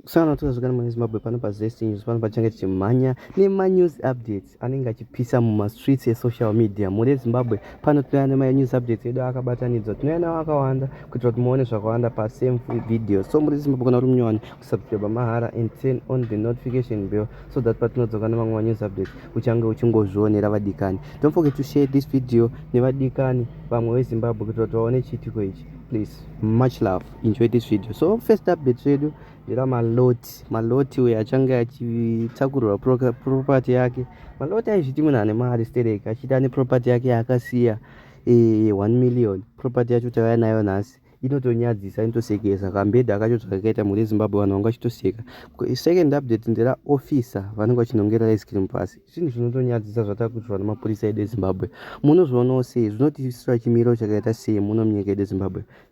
Sana tuzazvikana mune Zimbabwe pano pa Zest News pano pachange tichimhanya nema news updates anenge achipisa muma streets e social media mune Zimbabwe pano tinouya nema news updates edu akabatanidzwa tinouya nawo akawanda kuitira kuti muone zvakawanda pa same video so muri Zimbabwe kana kuti munyowani kusubscribe mahara and turn on the notification bell so that patinodzoka nemamwe ma news updates uchange uchingozvionera vadikani don't forget to share this video nevadikani vamwe veZimbabwe kuitira kuti vaone chiitiko ichi please much love enjoy this video so first update zvedu ndira maloti maloti uyo achange achitakurura property yake maloti aizviti munhu ane mari sterek achiti ane property yake yaakasiya e, eh, 1 million property yacho tavaya nayo nhasi inotonyadzisa inotosekesa kambedha kacho zvakakaita mhuri yezimbabwe vanhu vanga vachitoseka second update ndera officer vanenge vachinongera ice cream pasi zvinhu zvinotonyadzisa zvatakuitirwa nemapurisa edu ezimbabwe munozvionawo sei zvinotiisira chimiro chakaita sei muno munyika yedu ezimbabwe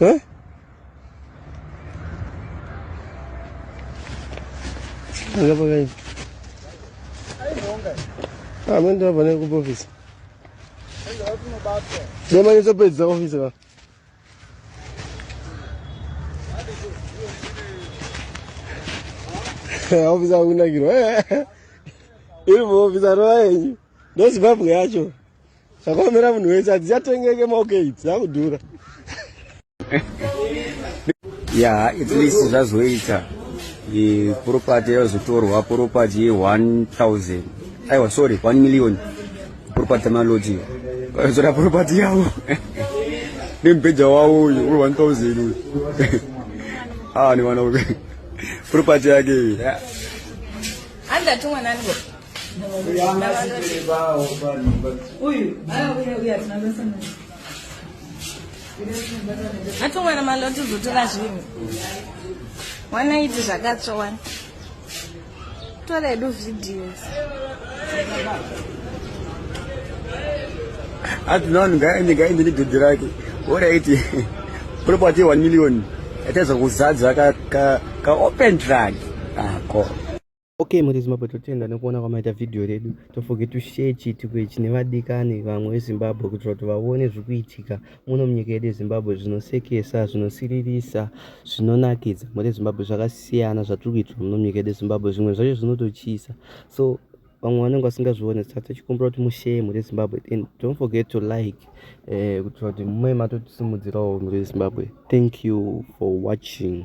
Eh? Anga pakai. Ah, mende apa ne kupo office. Dema ni sopedza office ka. Office akunakirwa. Iri mu office aroenyi. Ndozimbabwe yacho. zvakaomera munhu wese hadzichatengeke maokei dzakudhura ya at least zvazoita property yazotorwa property ye 1000 aiwa sorry 1 million property malodge vazotora property yavo nemubheja wavo uyu we 1000 uyu ah ni vana property yake iyi yeah. atomwana maloti uzotora zvinhu wana iti zvakatsva wani tora edu videos ati non ngaende ngaende nedhodhi rake oraiti property 1 million yataiza kuzadza kaopen ka, ka drug ako ah, Okay muri Zimbabwe totenda nekuona kwamaita video redu don't forget to share chiitiko ichi nevadikani vamwe veZimbabwe kuitira kuti vaone zviri kuitika muno munyika yedu yeZimbabwe zvinosekesa zvinosiririsa zvinonakidza muri Zimbabwe zvakasiyana zvatiri kuitira muno munyika yedu yeZimbabwe zvimwe zvacho zvinototyisa so vamwe vanenge vasingazvione saka tichikumbira kuti mushare muri Zimbabwe and don't forget to like eh, kuitira kuti mumwe matotisimudzirawo muri Zimbabwe thank you for watching